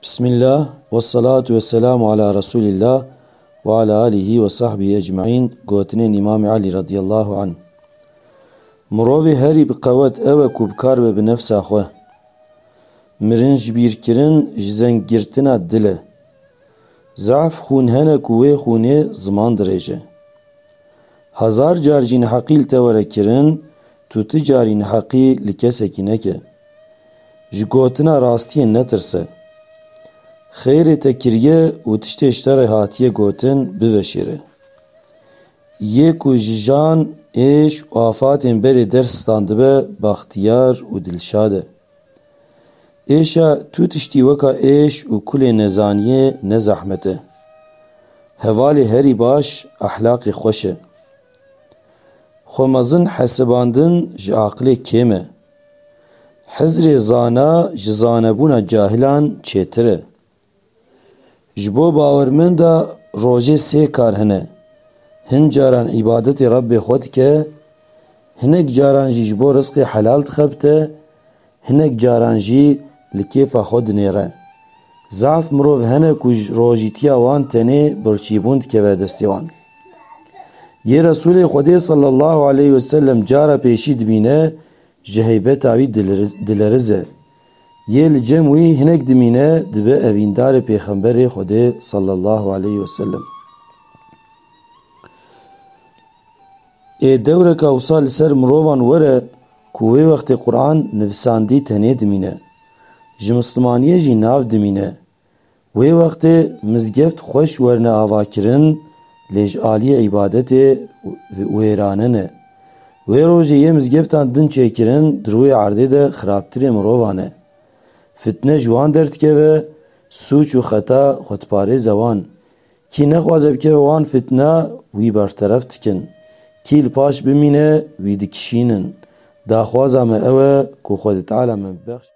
Bismillah ve salatu ve selamu ala Resulillah ve ala alihi ve sahbihi ecmaîn gotinên Îmamê Elî radiyallahu anh. Mirovê herî bi qewet ew e ku bi kar be bi nefsa xwe. Mirin ji bîr kirin ji zeng girtina dil e. Zaf xûn hene ku wê xûnê ziman dirêje. Hezar car jî neheqîl te were kirin Tu ti carî neheqî li kesekî neke. Ji gotina rastiyê netirse. Xeyrê te kiriye û tiştê ji te re hatiye gotin biveşêre. Yê ku ji jan, êş û afatên berê der sitandibe baxtiyar û dilşad e. Êşa tu tiştî weka êş û kulê nezaniyê ne zehmet e. Hevalê herî baş ehlaqê xweş e. Xwe mezin hesibandin ji aqilê kêm e. Hizrê zana ji zanebûna cahilan çêtir e. Ji bo bawermenda rojê sê kar hene, hin caran îbadetê Rebbê xwe dike, hinek caran jî ji bo rizqê helal dixebite Hinek caran jî li kêfa xwe dinêre. Zaf mirov hene ku ji rojîtiya wan tenê birçîbûn dikeve destê wan. Yê Resûlê Xwedê sallallahu aleyh ve sellem cara pêşî dimîne ji heybeta wî dileriz e. Yê li cem wî hinek dimîne dibe evîndarê Pêxemberê Xwedê sallallahu aleyh ve sellem. Ê dewreka wisa li ser mirovan were ku wê wextê Quran nivisandî tenê dimîne. Ji mislimaniyê jî nav dimîne. Wê wextê mizgeft xweş werne avakirin lê ji aliyê îbadetê wêrane ne. Wê rojê yê mizgeftan din çêkirin di rûyê erdê de xirabtirê mirovan e. Fitne ji wan derdikeve, sûc û xeta xwedparêze wan. Kî nexwaze bike wan fitne wî berteref dikin, kî li paş bimîne wî dikişînin. Daxwaza me ew e ku Xwedê Teala me bibexşe.